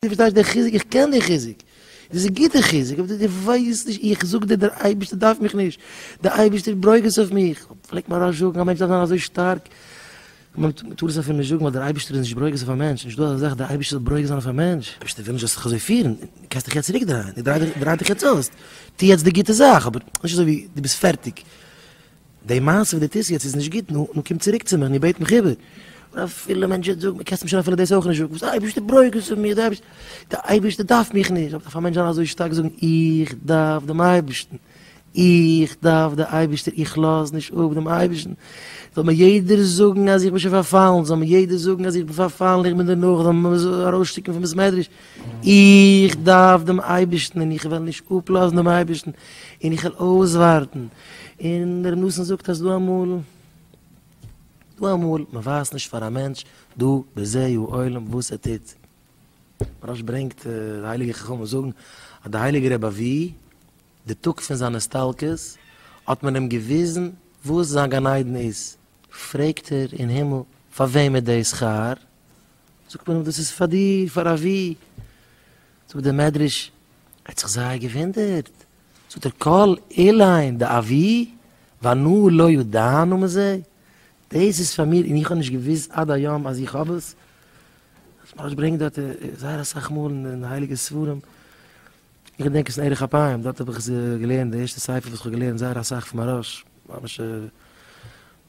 דו פארשטייסט די חיזוק? איך קען די חיזוק, דאס איז גוטע חיזוק, אבער דו ווייסט נישט, איך זאג דיר דער אייבערשטער דארף מיך נישט, דער אייבערשטער ברויך עס אויף מיך, פלעגט מען ארויס זאגן א מענטש דארף זיין אזוי שטארק, מען טאר עס אפילו נישט זאגן ווייל דער אייבערשטער איז נישט ברויך עס אויף א מענטש, נישטא אזא זאך דער אייבערשטער זאל ברויך זיין אויף א מענטש, דער אייבערשטער וויל נישט זאלסט זיך אזוי פירן, דו קענסט דיך יעצט צוריק דרייען, דרייט דיך יעצט אויס, טו יעצט די גוטע זאך, אבער נישט אזוי ווי דו ביסט פערטיג. די מעשה וואס דו טוסט יעצט איז נישט גוט, נו, נו קום צוריק צו מיר, נו בעט מיך איבער. און אפילו מענטש וועט זאגן, קענסט מיר שוין אפילו דאס אויך נישט זאגן, וואס די אייבערשטער ברויגז פון מיר, די אייבערשטער דארף מיך נישט, אויב דארף א מענטש זיין אזוי שטארק זאגן, איך דארף דעם אייבערשטן, איך דארף די אייבערשטער, איך לאז נישט אפ דעם אייבערשטן, זאל מיר יעדער זאגן אז איך בין שוין פארפאלן, זאל מיר יעדער זאגן אז איך בין פארפאלן, איך בין דערנאך, זאל מען מיר ארויסשטופן פון בית מדרש, איך דארף דעם אייבערשטן און איך וועל נישט אפלאזן דעם אייבערשטן, און איך וועל אויסווארטן. און ר' נתן זאגט אז דא אמאל דא אמאל מען ווייזט נישט פאר א מענטש דא בזה הוא עולם וואס ער טוט מרש ברענגט די הייליגע חכמים זאגן אז די הייליגע רבי אבי די טאג פון זיין הסתלקות האט מען אים געוויזן וואס זיין גן עדן איז פרעגט ער אין הימל פאר וועם איז די שכר זאגט מען אים דאס איז פאר דיר פאר אבי זאגט די מדרש ער האט זיך זייער געווינדערט. זאגט ער כל אילן דאבי ואנו לא ידענו מזה, דאס איז פאר מיר און איך האב נישט געוואוסט עד היום אז איך האב עס, עס ממש ברענגט דארט זייער אסאך מאל אין הייליגע ספרים, איך געדענק עס אין ערך אפיים דארט האב איך עס געלערנט די ערשטע ספר וואס איך האב געלערנט זייער אסאך פון מהרש א ממש א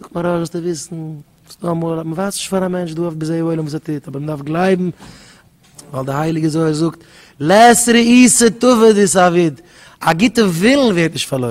זאגט מיר אויך זאלסטו וויסן וואס דא אמאל האט מען ווייסט נישט פאר א מענטש דא אויף בזה העולם וואס ער טוט אבער מען דארף גלייבן ווייל די הייליגע זוהר זאגט לעת ראי' ס'טוב ודי ס'אביד א גוטע ווילן ווערט נישט פארלוירן.